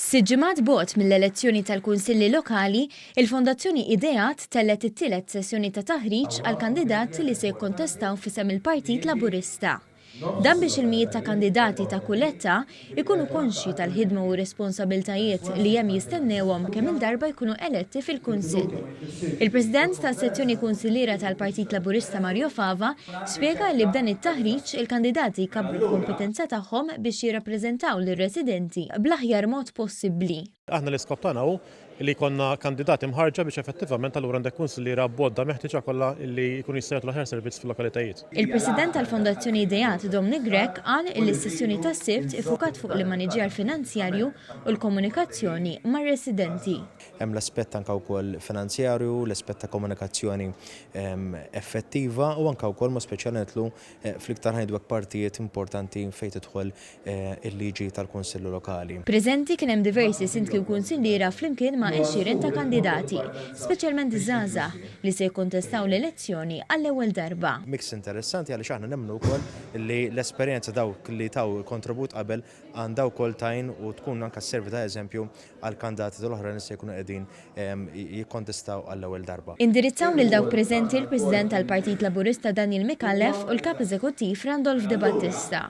Sitt ġimgħat bogħod mill-elezzjoni tal-Kunsilli Lokali, il-Fondazzjoni Ideat tellgħet it-tielet sessjoni ta' taħriġ għall-kandidati li se jikkontestaw f'isem il-Partit Laburista. Dan biex il-mijiet ta' kandidati ta' kull età ikunu konxji tal-ħidma u r-responsabiltajiet li hemm jistennewhom kemm-il darba jkunu eletti fil-Kunsill. Il-President tas-Sezzjoni Kunsilliera tal-Partit Laburista Mario Fava spjega li b'dan it-taħriġ il-kandidati jkabbru l-kompetenza tagħhom biex jirrappreżentaw lir-residenti bl-aħjar mod possibbli. Aħna l-iskop tagħna hu li jkollna kandidati mħarrġa biex effettivament allura għandek kunsilliera b'għodda meħtieġa kollha li jkunu jistgħu jagħtu l-aħjar servizz fil-lokalitajiet. Il-President tal-Fondazzjoni Ideat Dominic Grech qal li s-sessjoni tas-Sibt iffukat fuq l-immaniġġjar finanzjarju u l-komunikazzjoni mar-residenti. Hemm l-aspett anke wkoll finanzjarju, l-aspett ta' komunikazzjoni effettiva u anke wkoll mod speċjali nidħlu fl-iktar ngħidu hekk partijiet importanti fejn tidħol il-liġi tal-Kunsill Lokali. Preżenti kien hemm diversi Sindki u Kunsilliera flimkien ma' għexieren ta' kandidati, speċjalment żgħażagħ, li se jikkontestaw l-elezzjoni għall-ewwel darba. Mix interessanti għaliex aħna nemmnu wkoll li l-esperjenza dawk li taw kontribut qabel għandha wkoll tgħin u tkun anke sservi ta' eżempju għall-kandidati l-oħrajn li se jkunu qegħdin jikkontestaw għall-ewwel darba. Indirizzaw lil dawk preżenti l-President tal-Partit Laburista Daniel Micallef u l-Kap Eżekuttiv Randolph Debattista.